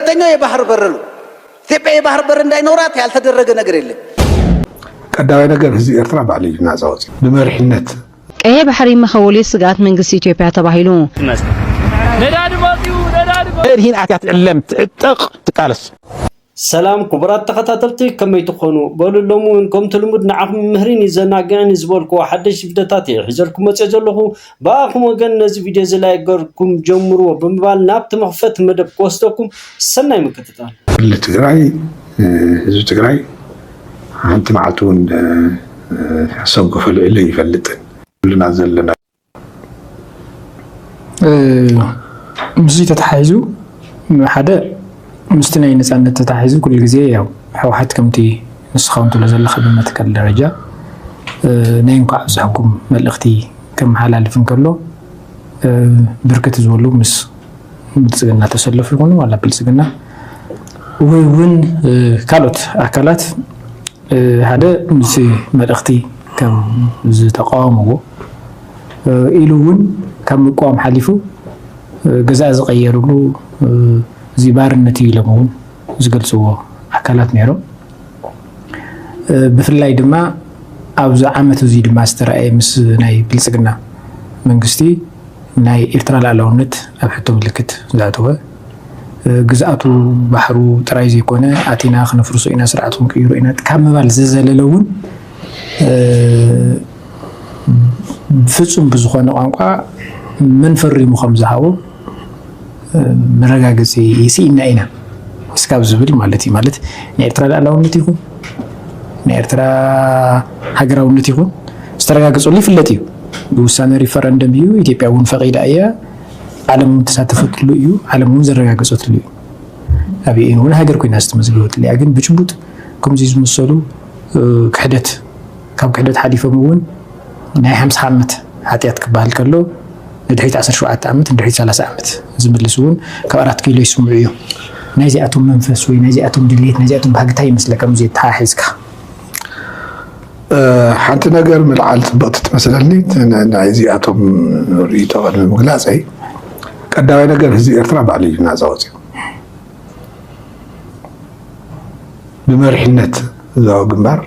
ሁለተኛው የባህር በር ነው። ኢትዮጵያ የባህር በር እንዳይኖራት ያልተደረገ ነገር የለም። ቀዳማይ ነገር ህዝቢ ኤርትራ ባዕሉ እዩ ናጻ ወፂ ብመሪሕነት ቀይሕ ባሕሪ ምኽውሊ ስግኣት መንግስቲ ኢትዮጵያ ተባሂሉ። እድሂን ኣትያ ትዕለም ትዕጠቕ ትቃለስ ሰላም ክቡራት ተኸታተልቲ ከመይ ትኾኑ በሉ ሎሚ እውን ከምቲ ልሙድ ንዓኹም ምህሪን ይዘናግዕን ዝበልኩዎ ሓደሽ ቪድዮታት እየ ሒዘልኩም መፅኦ ዘለኹ ብኣኹም ወገን ነዚ ቪድዮ እዚ ላይክ ገርኩም ጀምርዎ ብምባል ናብቲ መኽፈቲ መደብ ክወስደኩም ሰናይ ምክትታል። ክልል ትግራይ ህዝቢ ትግራይ ሓንቲ መዓልቲ እውን ሓሳብ ገፈሉ ኢለ ይፈልጥን ኩልና ዘለና ምስዚ ተተሓሒዙ ሓደ ምስቲ ናይ ነፃነት ተተሓሒዙ ኩሉ ግዜ ያው ሕወሓት ከምቲ ንስኻ እውን ትብሎ ዘለካ ብመትከል ደረጃ ናይ እንኳዕ ኣብዝሓኩም መልእኽቲ ከመሓላልፍ እንከሎ ብርክት ዝበሉ ምስ ብልፅግና ተሰለፉ ይኹኑ ዋላ ብልፅግና ወይ እውን ካልኦት ኣካላት ሓደ ምስ መልእኽቲ ከም ዝተቃወምዎ ኢሉ እውን ካብ ምቋም ሓሊፉ ገዛእ ዝቀየርሉ እዚ ባርነት እዩ ኢሎም እውን ዝገልፅዎ ኣካላት ነይሮም። ብፍላይ ድማ ኣብዚ ዓመት እዙይ ድማ ዝተረኣየ ምስ ናይ ብልፅግና መንግስቲ ናይ ኤርትራ ላዕላውነት ኣብ ሕቶ ምልክት ዝኣተወ ግዝኣቱ ባሕሩ ጥራይ ዘይኮነ ኣቲና ክነፍርሶ ኢና ስርዓት ክንቅይሮ ኢና ካብ ምባል ዝዘለለ እውን ፍፁም ብዝኾነ ቋንቋ መን ፈሪሙ ከም ዝሃቦ መረጋገፂ ይስኢና ኢና እስካብ ዝብል ማለት እዩ ማለት ናይ ኤርትራ ልኣላውነት ይኹን ናይ ኤርትራ ሃገራውነት ይኹን ዝተረጋገፀሉ ይፍለጥ እዩ ብውሳነ ሪፈረንደም እዩ ኢትዮጵያ እውን ፈቂዳ እያ ዓለም እውን ተሳተፈትሉ እዩ ዓለም እውን ዘረጋገፀትሉ እዩ ኣብ ዩኤን እውን ሃገር ኮይና ዝተመዝገበትሉ እያ ግን ብጭቡጥ ከምዚ ዝመሰሉ ክሕደት ካብ ክሕደት ሓሊፎም እውን ናይ ሓምሳ ዓመት ሓጢኣት ክበሃል ከሎ ንድሕሪት ዓሰርተ ሸውዓተ ዓመት ንድሕሪት ሰላሳ ዓመት ዝምልስ እውን ካብ ኣራት ኪሎ ይስምዑ እዮም። ናይዚኣቶም መንፈስ ወይ ናይዚኣቶም ድሌት ናይዚኣቶም ባህጊ እንታይ ይመስለካ ምስዚ ኣተሓሒዝካ? ሓንቲ ነገር ምልዓል ፅብቕቲ ትመስለኒ ናይዚኣቶም ርእይቶ ቅድሚ ምግላፀይ ቀዳማይ ነገር ህዝቢ ኤርትራ ባዕሉ እዩ ናፃ ወፂኡ ብመሪሕነት ህዝባዊ ግንባር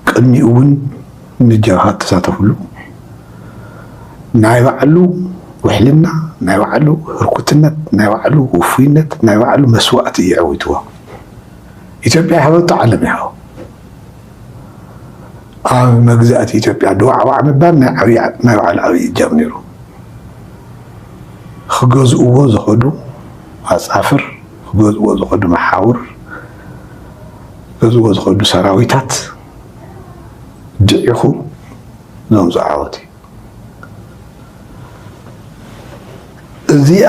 ቅድሚኡ እውን ንጀብሃ እተሳተፍሉ ናይ ባዕሉ ውሕልና፣ ናይ ባዕሉ ህርኩትነት፣ ናይ ባዕሉ ውፉይነት፣ ናይ ባዕሉ መስዋእቲ እዩ ዐዊትዎ። ኢትዮጵያ ይሃበቶ ዓለም ይሃቦ። ኣብ መግዛእቲ ኢትዮጵያ ድዋዕዋዕ ምባል ናይ ዓብይ ናይ ባዕሉ ዓብይ እጃም ነይሩ። ክገዝእዎ ዝኸዱ ኣጻፍር ክገዝእዎ ዝኸዱ መሓውር፣ ክገዝእዎ ዝኸዱ ሰራዊታት ድዒኹ ዘምጽኦ ዓወት እዩ። እዚኣ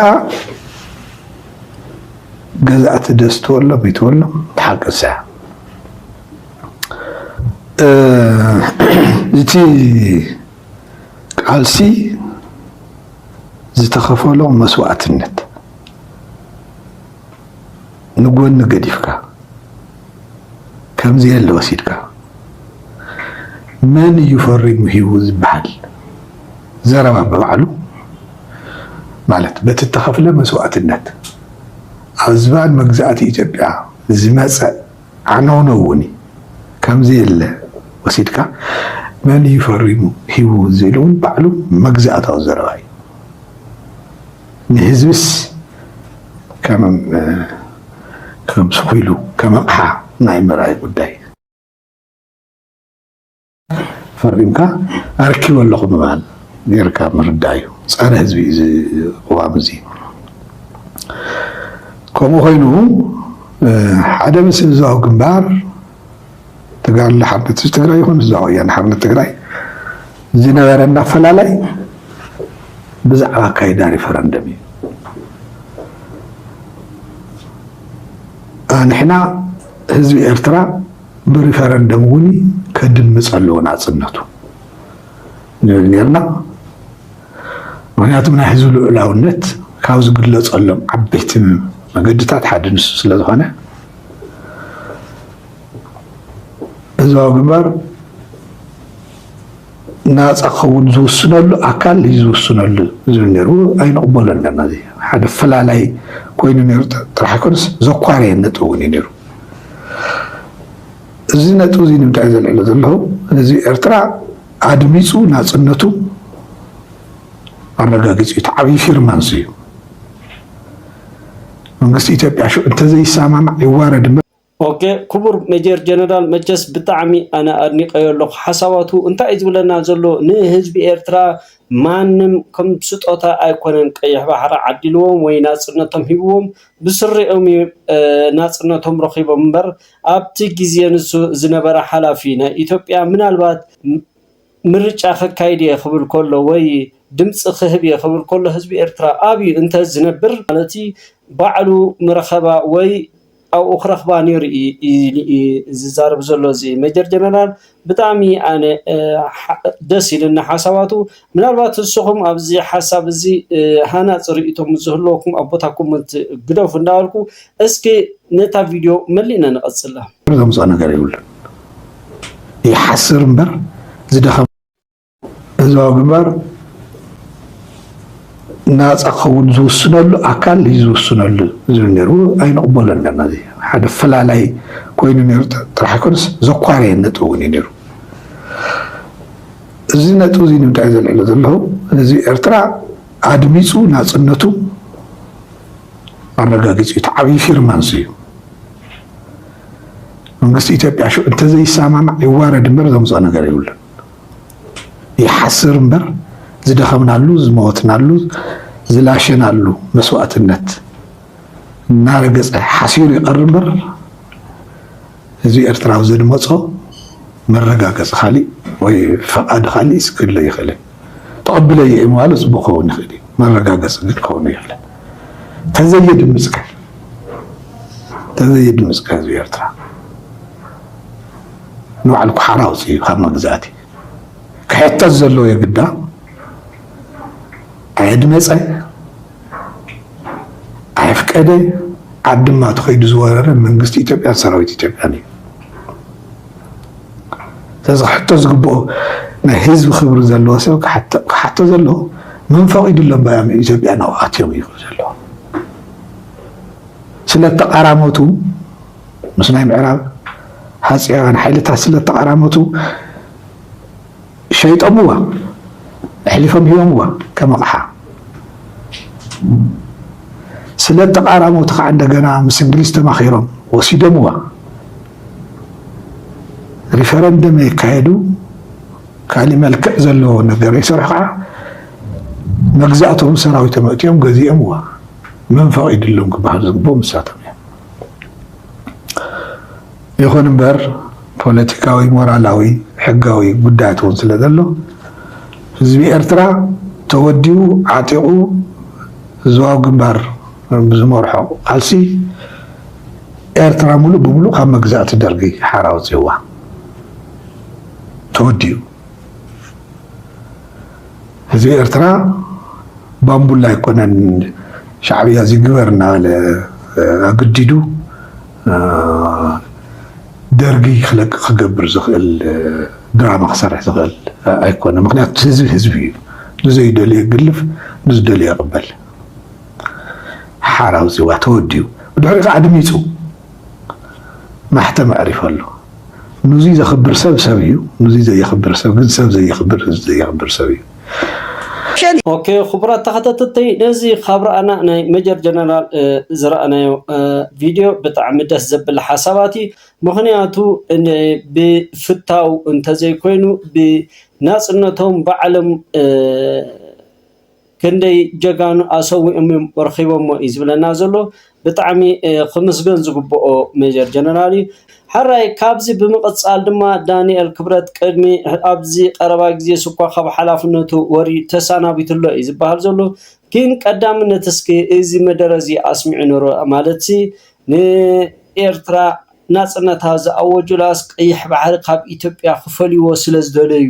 ገዛእቲ ደስ ትበሎም ይትበሎም ሓቂ ንስያ እቲ ቃልሲ ዝተኸፈሎ መስዋእትነት ንጎኒ ገዲፍካ ከምዘየለ ወሲድካ መን እዩ ፈሪሙ ሂቡ ዝበሃል ዘረባ ብባዕሉ ማለት በቲ እተኸፍለ መስዋእትነት ኣብ ዝባን መግዛእቲ ኢትዮጵያ ዝመፀ ዓነውነው እውን ከምዘየለ ወሲድካ መን እዩ ፈሪሙ ሂቡ ዝብል እውን ባዕሉ መግዛእታዊ ዘረባ እዩ። ንህዝብስ ከም ስኩሉ ከም ኣቕሓ ናይ ምርኣይ ጉዳይ። ፈሪምካ ኣርኪበ ኣለኹ ምባል ጌርካ ምርዳእ እዩ። ጸረ ህዝቢ እዩ እዚ ቅዋም እዚ። ከምኡ ኮይኑ ሓደ ምስ ህዝባዊ ግንባር ተጋድሎ ሓርነት ህዝቢ ትግራይ ይኹን ህዝባዊ ወያነ ሓርነት ትግራይ ዝነበረና ኣፈላላይ ብዛዕባ ኣካይዳ ሪፈረንደም እዩ። ንሕና ህዝቢ ኤርትራ ብሪፈረንደም እውን ከድምፅ ኣለዎ ናፅነቱ ንብል ነርና። ምክንያቱም ናይ ህዝቢ ልዑላውነት ካብ ዝግለፀሎም ዓበይቲ መገድታት ሓደ ንሱ ስለዝኾነ ህዝባዊ ግንባር ናፃ ክኸውን ዝውስነሉ ኣካል እዩ ዝውስነሉ ዝብል ነይሩ ኣይንቕበሎ ኣለና እዚ ሓደ ፈላላይ ኮይኑ ነይሩ ጥራሕ ኣይኮነስ ዘኳረየ ነጥቢ እውን እዩ ነይሩ እዚ ነጥቢ እዚ ንምንታይ ዘልዕሎ ዘለኹ ህዝቢ ኤርትራ ኣድሚፁ ናፅነቱ ኣረጋጊፁ እዩ ዓብዪ ፊርማንስ እዩ መንግስቲ ኢትዮጵያ ሽዑ እንተዘይሰማማዕ ይዋረድ ኦኬ ኩቡር መጀር ጀነራል መቸስ ብጣዕሚ ኣነ ኣድኒቀዮ ኣለኩ ሓሳባቱ እንታይ እዩ ዝብለና ዘሎ ንህዝቢ ኤርትራ ማንም ከም ስጦታ ኣይኮነን ቀይሕ ባሕሪ ዓዲልዎም ወይ ናጽነቶም ሂብዎም ብስሪኦም እዩ ናጽነቶም ረኪቦም እምበር ኣብቲ ግዜ ንሱ ዝነበረ ሓላፊ ናይ ኢትዮጵያ ምናልባት ምርጫ ከካይድ እየ ክብል ከሎ ወይ ድምጺ ክህብ እየ ክብል ከሎ ህዝቢ ኤርትራ ኣብዩ እንተ ዝነብር ማለት ባዕሉ ምረኸባ ወይ ኣብኡ ክረኽባ ኔሩ ኢዩ ዝዛረብ ዘሎ እዚ መጀር ጀነራል ብጣዕሚ ኣነ ደስ ኢሉኒ ሓሳባቱ ምናልባት ንስኹም ኣብዚ ሓሳብ እዚ ሃናጺ ርእይቶ ምስ ዝህልወኩም ኣብ ቦታ ኮመንት ግደፉ እንዳበልኩ እስኪ ነታ ቪድዮ መሊእና ንቐጽላ። ዘምጽኦ ነገር የብሉን ይሓስር እምበር ዝደኸመ ህዝባዊ ግንባር ናፃ ክኸውን ዝውስነሉ ኣካል እዩ ዝውስነሉ ዝብል ነይሩ ኣይንቕበሎን ነርና እዚ ሓደ ፈላላይ ኮይኑ ነይሩ ጥራሕ ኣይኮነስ ዘኳረየ ነጥቢ እውን እዩ ነይሩ እዚ ነጥቢ እዚ ንምንታይ ዘልዕሎ ዘለኹ ህዝቢ ኤርትራ ኣድሚፁ ናፅነቱ ኣረጋጊፁ እዩ። እቲ ዓብዪ ፊርማ እዙይ እዩ። መንግስቲ ኢትዮጵያ ሽዑ እንተዘይሰማማዕ ይዋረድ እምበር ዘምፅኦ ነገር የብሉን። ይሓስር እምበር ዝደኸምናሉ፣ ዝመወትናሉ፣ ዝላሸናሉ መስዋእትነት እናረገፀ ሓሲሩ ይቐር እምበር እዚ ኤርትራዊ ዘድመፆ መረጋገፂ ካሊእ ወይ ፈቓድ ካሊእ ክህሉ ኣይኽእልን። ተቐብለዮ እየ ምባሉ ፅቡቕ ክኸውን ይኽእል እዩ፣ መረጋገፂ ግን ክኸውን የብሉን። ተዘየድምፅካ ተዘየድምፅካ ህዝቢ ኤርትራ ንባዕሉ ኩሓራ ኣውፅኡ ካብ መግዛእቲ ክሕተት ዘለዎ የግዳ ኣየድመፀ ኣይፍቀደ ኣብ ድማ ተኸይዱ ዝወረረ መንግስቲ ኢትዮጵያን ሰራዊት ኢትዮጵያን እዩ። ስለዚ ክሕቶ ዝግብኦ ናይ ህዝቢ ክብሪ ዘለዎ ሰብ ክሓቶ ዘለዎ መን ፈቒዱሎም ባያም ኢትዮጵያ ናው ኣትዮም እዩ ዘለዎ ስለ ተቓራሞቱ ምስ ናይ ምዕራብ ሃፅያውያን ሓይልታት ስለ ተቓራሞቱ ሸይጦምዋ ኣሕሊፎም ሂቦምዋ ከም ኣቕሓ ስለ እተቓራመውቲ ኸዓ እንደገና ምስ እንግሊዝ ተማኺሮም ወሲዶምዋ ሪፈረንደም የካየዱ ካሊእ መልክዕ ዘለዎ ነገር ይሰርሑ ኸዓ መግዛእቶም ሰራዊቶም ኣእትዮም ገዚኦምዋ መን ፈቒድሎም ክበሃል ዝግብኦም ንሳቶም እዮም። ይኹን እምበር ፖለቲካዊ፣ ሞራላዊ፣ ሕጋዊ ጉዳያት እውን ስለ ዘሎ፣ ህዝቢ ኤርትራ ተወዲቡ ዓጢቑ ህዝባዊ ግንባር ብዝመርሖ ቃልሲ ኤርትራ ምሉእ ብምሉእ ካብ መግዛእቲ ደርጊ ሓራ ኣውጺኡዋ ተወዲኡ ህዝቢ ኤርትራ ባምቡላ ኣይኮነን ሻዕብያ እዚ ግበር እናበለ ኣግዲዱ ደርጊ ክለቅ ክገብር ዝኽእል ድራማ ክሰርሕ ዝኽእል ኣይኮነ ምክንያቱ ህዝቢ ህዝቢ እዩ ንዘይደልዮ ይግልፍ ንዝደልዮ ይቕበል ሓራው ጽዋ ተወዲኡ ብድሕሪ ከዓ ድሚጹ ማሕተም ኣዕሪፉ ኣሎ ኑዙይ ዘኽብር ሰብ ሰብ እዩ ኑዙይ ዘየኽብር ሰብ ግን ሰብ ዘየኽብር ህዝቢ ዘየኽብር ሰብ እዩ ኦኬ ክቡራት ተኸታተልቲ ነዚ ካብ ረኣና ናይ መጀር ጀነራል ዝረኣናዮ ቪድዮ ብጣዕሚ ደስ ዘብል ሓሳባት እዩ ምክንያቱ ብፍታው እንተዘይኮይኑ ብናፅነቶም ባዕሎም ክንደይ ጀጋኑ ኣሰዊኦም እዮም ረኪቦሞ እዩ ዝብለና ዘሎ ብጣዕሚ ክምስገን ዝግብኦ ሜጀር ጀነራል እዩ። ሐራይ ካብዚ ብምቅጻል ድማ ዳኒኤል ክብረት ቅድሚ ኣብዚ ቀረባ ግዜ ስኳ ካብ ሐላፍነቱ ወሪዩ ተሳናቢቱ ኣሎ እዩ ዝባሃል ዘሎ ግን ቀዳምነት እስኪ እዚ መደረ እዚ ኣስሚዑ ነሩ ማለትሲ ንኤርትራ ናጽነታ ዝኣወጁላስ ቀይሕ ባሕሪ ካብ ኢትዮጵያ ክፈልይዎ ስለ ዝደለዩ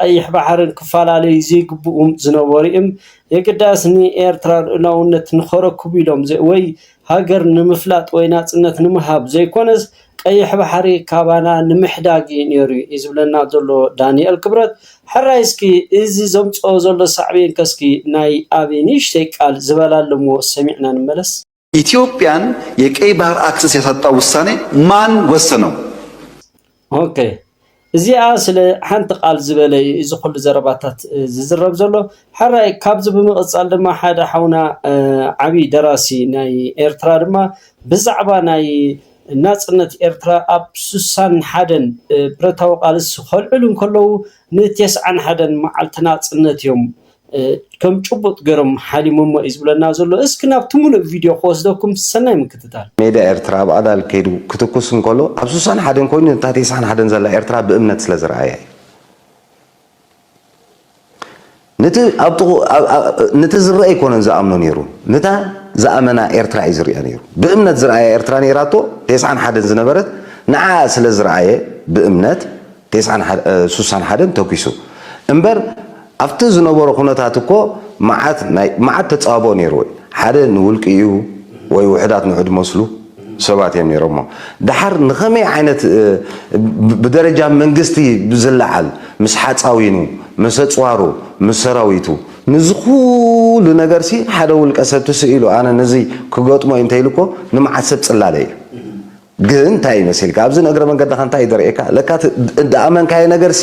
ቀይሕ ባሕርን ክፈላለዩ ዘይግብኡም ዝነበሩ'ዩም። የግዳስ ንኤርትራ ልኡላውነት ንኸረክቡ ኢሎም ወይ ሃገር ንምፍላጥ ወይ ናጽነት ንምሃብ ዘይኮነስ ቀይሕ ባሕሪ ካባና ንምሕዳግ'ዩ ነይሩ'ዩ ዝብለና ዘሎ ዳኒኤል ክብረት። ሕራይ እስኪ እዚ ዘምጽኦ ዘሎ ሳዕቤንከ እስኪ ናይ ኣቢ ንእሽተይ ቃል ዝበላ ኣለዎ ሰሚዕና ንመለስ። ኢትዮጵያን የቀይ ባህር ኣክሰስ ያሳጣ ውሳኔ ማን ወሰነው? ኦኬ እዚኣ ስለ ሓንቲ ቃል ዝበለ እዩ እዚ ኩሉ ዘረባታት ዝዝረብ ዘሎ ሓራይ ካብዚ ብምቕጻል ድማ ሓደ ሓውና ዓብዪ ደራሲ ናይ ኤርትራ ድማ ብዛዕባ ናይ ናጽነት ኤርትራ ኣብ ስሳን ሓደን ብረታዊ ቃልሲ ከልዕሉ እንከለዉ ንቴስዓን ሓደን መዓልቲ ናጽነት እዮም ከም ጭቡጥ ገሮም ሓዲሞሞ እዩ ዝብለና ዘሎ እስኪ ናብቲ ሙሉእ ቪድዮ ክወስደኩም ሰናይ ምክትታል። ሜዳ ኤርትራ ኣብ ኣዳል ከይዱ ክትኩስ እንከሎ ኣብ ስሳን ሓደን ኮይኑ ነታ ተስዓን ሓደን ዘላ ኤርትራ ብእምነት ስለ ዝረኣያ እዩ። ንቲ ኣብ ጥቕኡ ንቲ ዝረኣ ኣይኮነን ዝኣምኖ ነይሩ ንታ ዝኣመና ኤርትራ እዩ ዝርእያ ነይሩ ብእምነት ዝረኣያ ኤርትራ ነይራቶ ተስዓን ሓደን ዝነበረት ንዓኣ ስለ ዝረኣየ ብእምነት ቴስዓን ሱሳን ሓደን ተኪሱ እምበር ኣብቲ ዝነበሮ ኩነታት እኮ መዓት ናይ መዓት ተጻቦ ነይሩ እዩ ሓደ ንውልቂኡ ወይ ውሑዳት ንዑድ መስሉ ሰባት እዮም ነይሮሞ ደሓር ንኸመይ ዓይነት ብደረጃ መንግስቲ ብዝለዓል ምስ ሓጻዊኑ ምስ ኣጽዋሩ ምስ ሰራዊቱ ንዚ ኩሉ ነገርሲ ሓደ ውልቀ ሰብ ትስኢሉ ኣነ ንዚ ክገጥሞ እዩ እንተኢሉ እኮ ንመዓት ሰብ ጽላለ እዩ ግን እንታይ መሲልካ ኣብዚ ንእግረ መንገድኻ እንታይ እዩ ዘርእየካ ለካ እቲ እዳኣመንካዮ ነገርሲ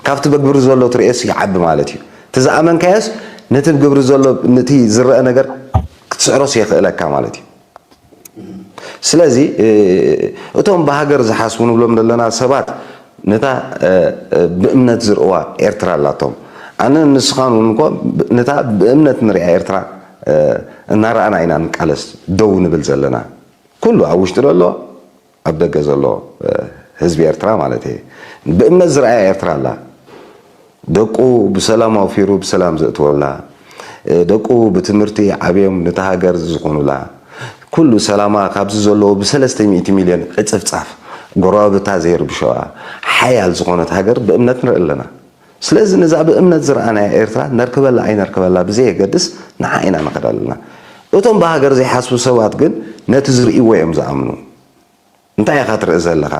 ካብቲ በግብሪ ዘሎ ትርእዮስ ይዓቢ ማለት እዩ እቲ ዝኣመንካዮስ ነቲ ብግብሪ ዘሎ ንቲ ዝረኣ ነገር ክትስዕሮስ የኽእለካ ማለት እዩ ስለዚ እቶም ብሃገር ዝሓስቡ ንብሎም ዘለና ሰባት ነታ ብእምነት ዝርእዋ ኤርትራ ኣላቶም ኣነ ንስኻን እውን እኮ ነታ ብእምነት ንሪኣ ኤርትራ እናረኣና ኢና ንቃለስ ደው ንብል ዘለና ኩሉ ኣብ ውሽጢ ዘሎ ኣብ ደገ ዘሎ ህዝቢ ኤርትራ ማለተይ ብእምነት ዝርኣያ ኤርትራ ኣላ ደቁ ብሰላም ኣውፊሩ ብሰላም ዘእትወላ ደቁ ብትምህርቲ ዓብዮም ነታ ሃገር ዝኾኑላ ኩሉ ሰላማ ካብዚ ዘለዎ ብሰለስተ ሚእቲ ሚልዮን ዕጽፍጻፍ ጎረባብታ ዘይርብሸዋ ሓያል ዝኾነት ሃገር ብእምነት ንርኢ ኣለና። ስለዚ ነዛ ብእምነት ዝረኣናያ ኤርትራ ነርክበላ ኣይነርክበላ ብዘየገድስ ንዓ ኢና ንኸድ ኣለና። እቶም ብሃገር ዘይሓስቡ ሰባት ግን ነቲ ዝርእይዎ እዮም ዝኣምኑ። እንታይ ኢኻ ትርኢ ዘለኻ?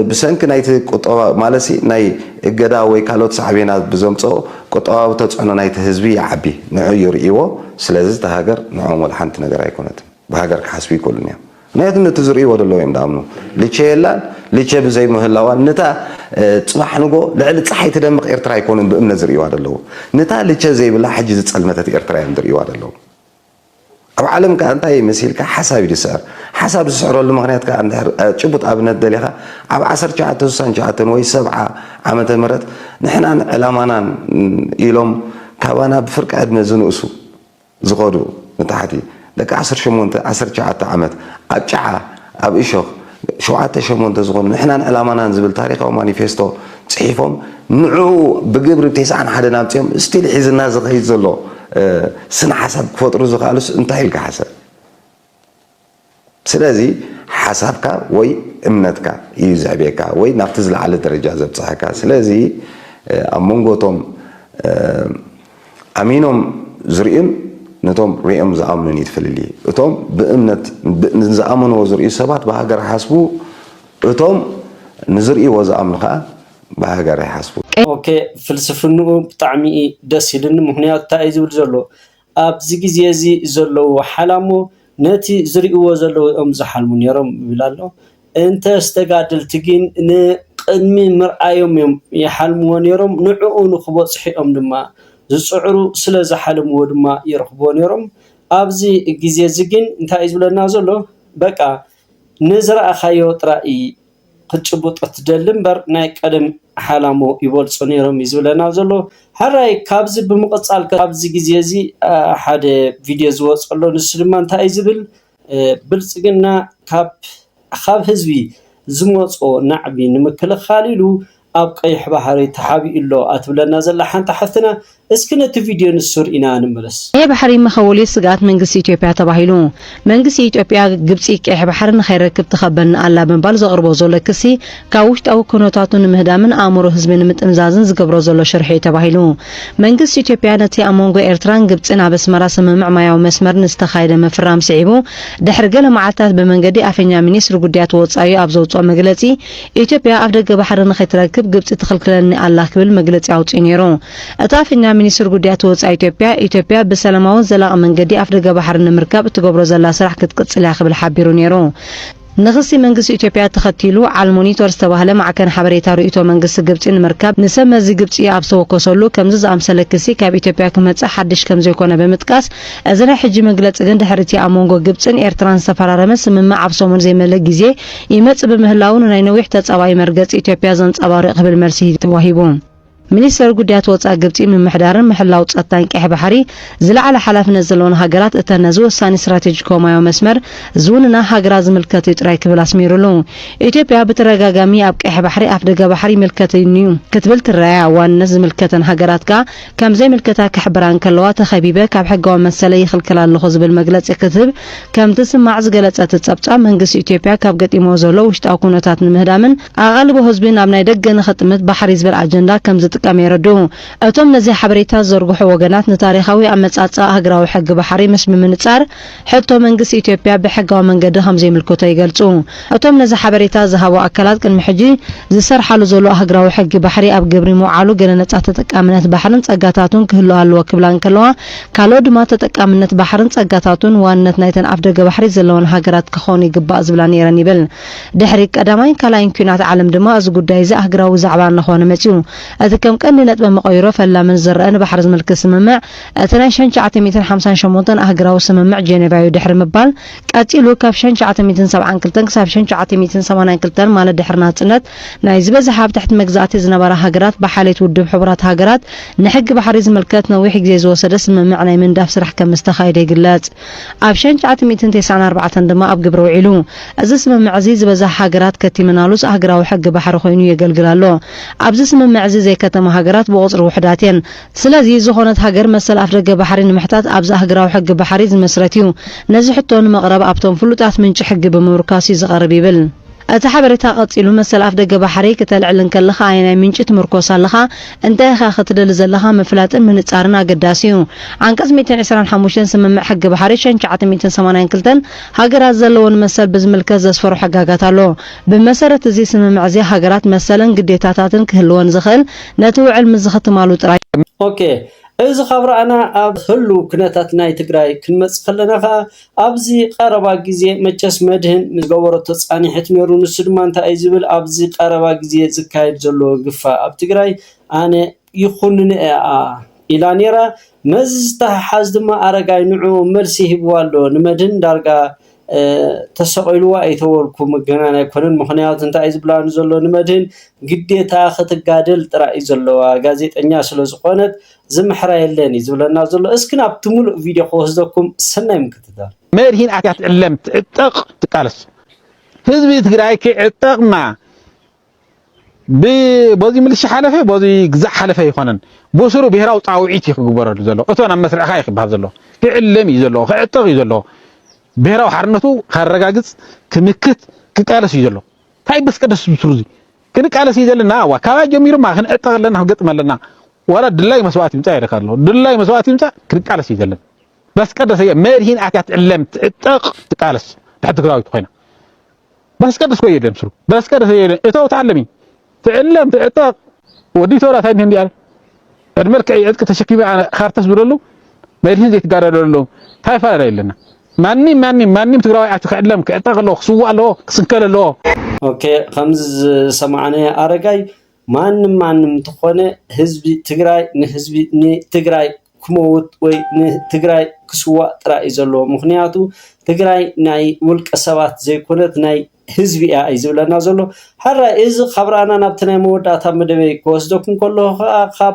ብሰንኪ ናይቲ ቁጠባ ማለትሲ ናይ እገዳ ወይ ካልኦት ሳዕቤናት ብዘምጽኦ ቁጠባዊ ተጽዕኖ ናይቲ ህዝቢ ይዓቢ። ንዑ ይርእይዎ። ስለዚ እታ ሃገር ንዖም ወላ ሓንቲ ነገር ኣይኮነትን። ብሃገር ክሓስቡ ኣይክእሉን እዮም ምክንያቱ ነቲ ዝርእይዎ ዘለዉ እዮም ድኣምኑ ልቸ የላን ልቸ ብዘይ ምህላዋን ንታ ጽባሕ ንጎ ልዕሊ ጸሓይ ትደምቕ ኤርትራ ኣይኮኑን ብእምነት ዝርእይዋ ዘለዉ ንታ ልቸ ዘይብላ ሕጂ ዝጸልመተት ኤርትራ እዮም ዝርእይዋ ዘለዉ ኣብ ዓለም ከኣ እንታይ እዩ መሲልካ ሓሳብ እዩ ዝስዕር ሓሳብ ዝስዕረሉ ምክንያት ከኣ እንድሕር ጭቡጥ ኣብነት ደሊኻ ኣብ 1969 ወይ 70 ዓመተ ምህረት ንሕናን ዕላማናን ኢሎም ካባና ብፍርቂ ዕድመ ዝንእሱ ዝኸዱ ንታሕቲ ደቂ ዓሰርተ ሸሞንተ ዓሰርተ ትሽዓተ ዓመት ኣብ ጭዓ ኣብ እሾኽ ሸውዓተ ሸሞንተ ዝኾኑ ንሕናን ዕላማናን ዝብል ታሪኻዊ ማኒፌስቶ ፅሒፎም ንዕኡ ብግብሪ ቴስዓን ሓደን ኣምፂኦም ስቲል ሒዝና ዝኸይድ ዘሎ ስነ ሓሳብ ክፈጥሩ ዝኸኣሉስ እንታይ ኢልካ ሓሰብ ስለዚ ሓሳብካ ወይ እምነትካ ኢዩ ዘዕብየካ ወይ ናብቲ ዝለዓለ ደረጃ ዘብጽሓካ። ስለዚ ኣብ መንጎ እቶም ኣሚኖም ዝርእዩን ነቶም ርእዮም ዝኣምኑን ኢዩ እቲ ፍልልይ። እቶም ብእምነት ንዝኣመንዎ ዝርእዩ ሰባት ብሃገር ይሓስቡ፣ እቶም ንዝርእይዎ ዝኣምኑ ከኣ ብሃገር ኣይሓስቡን። ኦኬ ፍልስፍንኡ ብጣዕሚ እዪ ደስ ኢልኒ ምኽንያቱ ታይ እዪ ዝብል ዘሎ ኣብዚ ግዜ እዚ ዘለዉ ሓላሞ ነቲ ዝርእይዎ ዘለዉ እዮም ዝሓልሙ ነይሮም ይብል ኣሎ። እንተስ ተጋደልቲ ግን ንቕድሚ ምርኣዮም እዮም ይሓልምዎ ነይሮም፣ ንዕኡ ንኽበጽሑ እዮም ድማ ዝጽዕሩ፣ ስለ ዝሓለምዎ ድማ ይረኽብዎ ነይሮም። ኣብዚ ግዜ እዚ ግን እንታይ እዩ ዝብለና ዘሎ? በቃ ንዝረኣኻዮ ጥራይ እዪ ክትጭብጦ ትደሊ እምበር ናይ ቀደም ሓላሞ ይበልጹ ኔሮም እዪ ዝብለና ዘሎ ሕራይ ካብዚ ብምቅጻል ከኣ ኣብዚ ግዜ እዚ ሓደ ቪድዮ ዝወጾ ኣሎ ንሱ ድማ እንታይ እዪ ዝብል ብልጽግና ካብ ካብ ህዝቢ ዝመጾ ናዕቢ ንምክልኻል ኢሉ ኣብ ቀይሕ ባሕሪ ተሓቢኡ'ሎ ኣትብለና ዘላ ሓንቲ ሓፍትና፣ እስኪ ነቲ ቪድዮ ንሱ ርኢና ንመለስ። ቀይሕ ባሕሪ መኸወሊ ስግኣት መንግስቲ ኢትዮጵያ ተባሂሉ መንግስቲ ኢትዮጵያ ግብፂ ቀይሕ ባሕሪ ንኸይረክብ ትኸበኒ ኣላ ብምባል ዘቕርቦ ዘሎ ክሲ ካብ ውሽጣዊ ኩነታቱ ንምህዳምን ኣእምሮ ህዝቢ ንምጥምዛዝን ዝገብሮ ዘሎ ሽርሒ'ዩ ተባሂሉ መንግስቲ ኢትዮጵያ ነቲ ኣብ መንጎ ኤርትራን ግብፂን ኣብ ኣስመራ ስምምዕ ማያዊ መስመር ንዝተኻየደ ምፍራም ስዒቡ ድሕሪ ገለ መዓልታት ብመንገዲ ኣፈኛ ሚኒስትሪ ጉዳያት ወፃኢ ኣብ ዘውፅኦ መግለፂ ኢትዮጵያ ኣፍ ደገ ባሕሪ ንኸይትረክብ ግብጺ ትኽልክለኒ ኣላ ክብል መግለጺ ኣውጺኡ ነይሩ። እቲ ኣፈኛ ሚኒስትሪ ጉዳያት ወጻኢ ኢትዮጵያ፣ ኢትዮጵያ ብሰላማውን ዘላቒ መንገዲ ኣፍ ደገ ባሕሪ ንምርካብ እትገብሮ ዘላ ስራሕ ክትቅጽል እያ ክብል ሓቢሩ ነይሩ። ንኽሲ መንግስቲ ኢትዮጵያ ተኸቲሉ፣ ዓልሞኒቶር ዝተባህለ ማዕከን ሓበሬታ ርእይቶ መንግስቲ ግብጺ ንምርካብ ንሰብ መዚ ግብጺ ኣብ ዝተወከሰሉ፣ ከምዚ ዝኣምሰለ ክሲ ካብ ኢትዮጵያ ክመጽእ ሓድሽ ከምዘይኮነ ብምጥቃስ፣ እዚ ናይ ሕጂ መግለጺ ግን ድሕሪ'ቲ ኣብ መንጎ ግብጽን ኤርትራን ዝተፈራረመ ስምምዕ ኣብ ሰሙን ዘይመልእ ግዜ ይመጽእ ብምህላዉ ንናይ ነዊሕ ተጻባኢ መርገጺ ኢትዮጵያ ዘንጸባርቕ ክብል መልሲ ተዋሂቡ። ሚኒስተር ጉዳያት ወጻኢ ግብጺ ምምሕዳርን ምሕላው ጸጥታን ቀይሕ ባሕሪ ዝለዓለ ሓላፍነት ዘለወን ሃገራት እተን ነዚ ወሳኒ ስትራቴጂካዊ ማያዊ መስመር ዝውንና ሃገራት ዝምልከት እዩ ጥራይ ክብል ኣስሚሩሉ። ኢትዮጵያ ብተደጋጋሚ ኣብ ቀይሕ ባሕሪ ኣፍደገ ባሕሪ ይምልከተኒ'ዩ ክትብል ትረኣያ ዋንነት ዝምልከተን ሃገራት ከኣ ከም ዘይምልከታ ክሕብራ እንከለዋ ተኸቢበ ካብ ሕጋዊ መሰለይ ይኽልከል ኣለኹ ዝብል መግለጺ ክትህብ ከም ትስማዕ ዝገለጸ እቲ ጸብጻብ መንግስቲ ኢትዮጵያ ካብ ገጢምዎ ዘሎ ውሽጣዊ ኩነታት ንምህዳምን ኣቓልቦ ህዝቢ ናብ ናይ ደገ ንኽጥምት ባሕሪ ዝብል ኣጀንዳ ከም ዝጥቀም የረድኡ እቶም ነዚ ሓበሬታ ዝዘርግሑ ወገናት ንታሪኻዊ ኣመጻጽኣ ሃገራዊ ሕጊ ባሕሪ ምስ ብምንጻር ሕቶ፣ መንግስቲ ኢትዮጵያ ብሕጋዊ መንገዲ ከም ዘይምልከቶ ይገልጹ እቶም ነዚ ሓበሬታ ዝሃቡ ኣካላት፣ ቅድሚ ሕጂ ዝሰርሓሉ ዘሎ ኣህግራዊ ሕጊ ባሕሪ ኣብ ግብሪ ምውዓሉ ገለ ነጻ ተጠቃምነት ባሕርን ጸጋታቱን ክህሉ ኣለዎ ክብላ እንከለዋ፣ ካልኦት ድማ ተጠቃምነት ባሕርን ጸጋታቱን ዋንነት ናይተን ኣፍደገ ባሕሪ ዘለወን ሃገራት ክኾን ይግባእ ዝብላ ነይረን ይብል። ድሕሪ ቀዳማይን ካልኣይን ኲናት ዓለም ድማ እዚ ጉዳይ'ዚ ኣህግራዊ ዛዕባ እናኾነ መጺኡ። እቲ ከም ቀንዲ ነጥበ መቐይሮ ፈላምን ዝረኣን ባሕሪ ዝምልክት ስምምዕ፣ እቲ ናይ ሸን ትሽዓተ ሚእትን ሓምሳን ሸሞንተን ኣህግራዊ ስምምዕ ጀኔቫዩ ድሕሪ ምባል፣ ቀጺሉ ካብ ሸን ትሽዓተ ሚእትን ሰብዓን ክልተን ክሳብ ሸን ትሽዓተ ሚእትን ሰማንያን ክልተን ማለት ድሕሪ ናጽነት ናይ ዝበዝሓ ኣብ ትሕቲ መግዛእቲ ዝነበራ ሃገራት ብሓልየት ውድብ ሕቡራት ሃገራት ንሕጊ ባሕሪ ዝምልከት ነዊሕ ግዜ ዝወሰደ ስምምዕ ናይ ምንዳፍ ስራሕ ከም ዝተኻየደ ይግለጽ። ኣብ ሸን ትሽዓተ ሚእትን ተስዓን ኣርባዕተን ድማ ኣብ ግብሪ ውዒሉ። እዚ ስምምዕ እዚ ዝበዝሓ ሃገራት ከቲመናሉስ ኣህግራዊ ሕጊ ባሕሪ ኮይኑ የገልግል ኣሎ። ኣብዚ ስምምዕ እዚ ዘይከተማ ሃገራት ብቑጽሪ ውሑዳት እየን። ስለዚ ዝኾነት ሃገር መሰል ኣፍደገ ባሕሪ ንምሕታት ኣብዚ ኣህግራዊ ሕጊ ባሕሪ ዝመስረት እዩ። ነዚ ሕቶ ንመቕረብ ኣብቶም ፍሉጣት ምንጪ ሕጊ ብምምርኳስ እዩ ዝቐርብ ይብል እቲ ሓበሬታ ቀጺሉ መሰል ኣፍደገ ባሕሪ ክተልዕል እንከለኻ ኣየናይ ምንጪ ትምርኮስ ኣለኻ እንታይ ኢኻ ክትደሊ ዘለኻ ምፍላጥን ምንጻርን ኣገዳሲ እዩ ዓንቀጽ ሚእትን ዕስራን ሓሙሽተን ስምምዕ ሕጊ ባሕሪ ሸን ትሽዓተ ሚእትን ሰማንያን ክልተን ሃገራት ዘለወን መሰል ብዝምልከት ዘስፈሮ ሕጋጋት ኣሎ ብመሰረት እዚ ስምምዕ እዚ ሃገራት መሰልን ግዴታታትን ክህልወን ዝኽእል ነቲ ውዕል ምስ ዝኽትማሉ ጥራይ እዩ። ኦኬ እዚ ካብ ረኣና ኣብ ህሉው ኩነታት ናይ ትግራይ ክንመጽእ ከለና ከኣ ኣብዚ ቀረባ ግዜ መቸስ መድህን ምስ ዝገበረቶ ጻኒሕት ኔሩ ንሱ ድማ እንታይ እዩ ዝብል ኣብዚ ቀረባ ግዜ ዝካየድ ዘሎ ግፋ ኣብ ትግራይ ኣነ ይኹንኖ እኣ ኢላ ኔራ መዚ ዝተሓሓዝ ድማ ኣረጋይ ንዕኡ መልሲ ሂብዋ ኣሎ ንመድህን ዳርጋ ተሰቂሉዋ እዩ ተበልኩ ምግናን ኣይኮነን ምኽንያቱ እንታይ እዩ ዝብላኒ ዘሎ ንመድህን ግዴታ ክትጋደል ጥራይ እዩ ዘለዋ ጋዜጠኛ ስለ ዝኾነት ዝምሕራ የለን እዩ ዝብለና ዘሎ እስኪ ናብቲ ሙሉእ ቪድዮ ክወስደኩም ሰናይ ምክትታል መድህን ኣትያ ትዕለም ትዕጠቕ ትቃለስ ህዝቢ ትግራይ ክዕጠቕና በዚ ምልሻ ሓለፈ በዚ ግዛዕ ሓለፈ ኣይኮነን ብስሩ ብሄራዊ ፃውዒት እዩ ክግበረሉ ዘሎ እቶን ኣብ መስርዕካ እዩ ክበሃል ዘለዎ ክዕለም እዩ ዘለዎ ክዕጠቕ እዩ ዘለዎ ብሄራዊ ሓርነቱ ካረጋግፅ ክምክት ክቃለስ እዩ ዘለዎ እንታይ በስቀደስ ብስሩ እዚ ክንቃለስ እዩ ዘለና ዋ ካባይ ጀሚሩ ማ ክንዕጠቕ ኣለና ክንገጥም ኣለና ዋላ ድላይ መስዋእቲ ይምፃእ ኢለካ ኣለዎ ድላይ መስዋእቲ ይምፃእ ክንቃለስ እዩ ዘለና በስቀደስ እየ መድሂን ኣትያ ትዕለም ትዕጠቕ ትቃለስ ድሕር ትግራዊት ኮይና በስቀደስ ኮ የለን ስሩ በስቀደስ የለን እተው ተዓለሚ ትዕለም ትዕጠቕ ወዲ ተወላ ታይ እንዲያ ዕድ መልክዕ ዕጥቂ ተሸኪመ ካርተስ ብለሉ መድህን ዘይትጋዳደለሉ ታይ ፋላ የለና ማንም ማንም ማንም ትግራዋይ ኣቲ ክዕለም ክዕጠቕ ኣለዎ ክስዋእ ኣለዎ ክስንከል ኣለዎ ኦኬ ከምዚ ዝሰማዕናዮ ኣረጋይ ማንም ማንም እንተኾነ ህዝቢ ትግራይ ንህዝቢ ንትግራይ ክመውት ወይ ንትግራይ ክስዋእ ጥራይ እዩ ዘለዎ። ምኽንያቱ ትግራይ ናይ ውልቀ ሰባት ዘይኮነት ናይ ህዝቢ እያ እዩ ዝብለና ዘሎ። ሕራይ እዚ ካብ ራእና ናብቲ ናይ መወዳእታ መደበይ ክወስደኩም ከለኹ ከዓ ካብ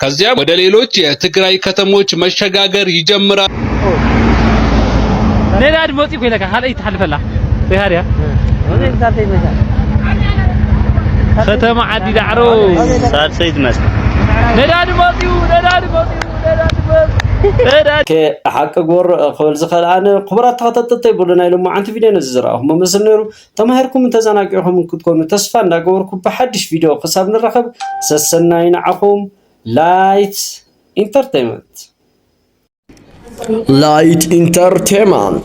ከዚያም ወደ ሌሎች የትግራይ ከተሞች መሸጋገር ይጀምራል። ሌላ ድሞጽ ይኮ ይለካ ካልአይ ትሓልፈላ ሪሃርያ ከተማ ዓዲ ዳዕሮ ሳልሰይ ትመስል ነዳዲ መጽዩ ነዳዲ መጽዩ ነዳዲ መጽዩ ሓቂ ጎር ክብል ዝኸልኣነ ክቡራት ተኸታተልተይ ብሉ ናይ ሎማዓንቲ ቪድዮ ነዚ ዝረኣኹሞ መስል ነይሩ ተማሂርኩምን ተዘናጊዕኹምን ክትኮኑ ተስፋ እንዳገበርኩ ብሓዱሽ ቪድዮ ክሳብ ንራኸብ ሰሰናዩ ንዓኹም ላይት ኢንተርቴይመንት ላይት ኢንተርቴይመንት